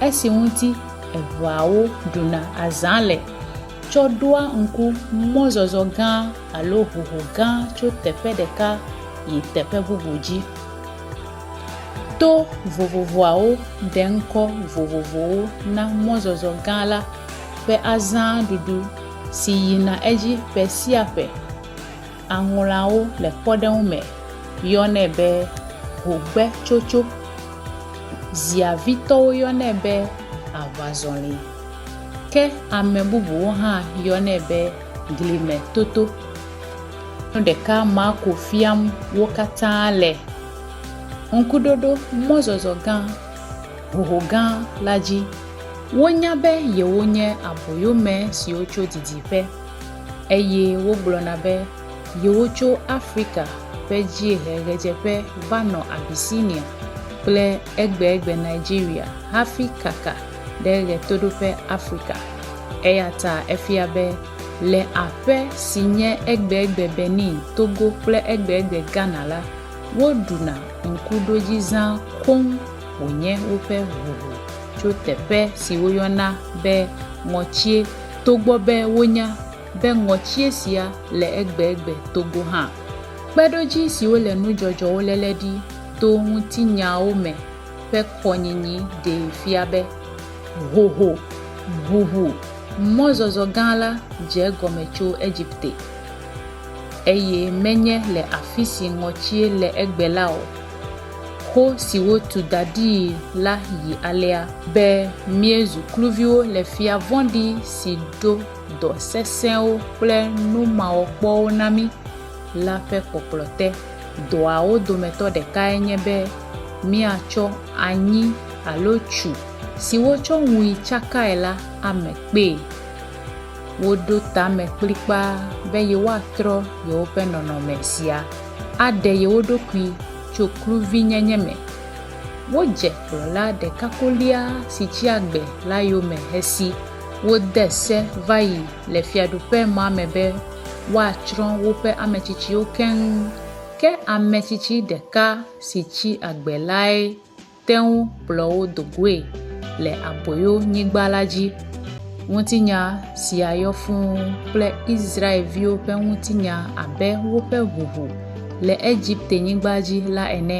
esi ŋuti eveawo ɖuna azã le tsɔ ɖoa ŋku mɔzɔzɔ gã alo hoho gã tso teƒe ɖeka yi teƒe bubu dzi. To vovovoawo ɖe ŋkɔ vovovowo na mɔzɔzɔ gã la ƒe azã ɖuɖu si yina edzi ƒe sia ƒe. Aŋlawo le kpɔɖeŋu me yɔnɛ be hogbetsotso. Ziavitɔwo yɔnɛ be aʋazɔli. Ke ame bubuwo hã yɔnɛ be glimetoto. Nu ɖeka Marko fiam wo katã le Ŋkuɖoɖo mɔzɔzɔ gã hoho gã la dzi. Wonya be yewonye aboyome siwo tso didiƒe. eye wogblɔna be yewotso Afrika ƒe dziehe-ɣedzeƒe va nɔ Abyssinia kple egbegbe Nigeria hafi kaka ɖe ɣetoɖoƒe Afrika. Eya ta efia be le aƒe si nye egbegbe Benin, Togo kple egbegbe Ghana la, woɖuna ŋkuɖodzizã koŋ wònye woƒe ʋuʋu tso teƒe si woyɔna be ŋɔtie. togbɔ be wonya be ŋɔtie sia le egbegbe togo hã. Kpeɖodzi siwo le nudzɔdzɔwo léle ɖi to ŋutinyawo me ƒe kɔnyinyi ɖee fia be hoho, ʋuʋu, mɔzɔzɔ gã la dze egɔme tso Egipte, eye menye le afisi ŋɔtie le egbe la o. Xo si wotu da ɖii la yi alea. Be míezu kluviwo le fia vɔ̃ɖi si ɖo dɔ sesẽwo kple numawɔkpɔwo na mí la ƒe kpɔkplɔ te. Dɔawo dometɔ ɖekae nye be míatsɔ anyi alo tsu si wotsɔ ŋui tsakae la ame kpee. Woɖo tame kplikpaa be yewoatrɔ yewoƒe nɔnɔme sia aɖe yewo ɖokui. tso kluvinyenye me. Wodze kplɔla ɖekakolia si tsi agbe la yome hesi wode se va yi le Fiaɖuƒemɔa me be woatsrɔ̃ woƒe ame tsitsiwo keŋ. Ke ame tsitsi ɖeka si tsi agbe lae. te ŋu kplɔ wo do goe le Aboyonyigba la dzi. Ŋutinya sia yɔ fũu kple Israel-viwo ƒe ŋutinya abe woƒe ʋuʋu le Egipte-nyigba dzi la ene.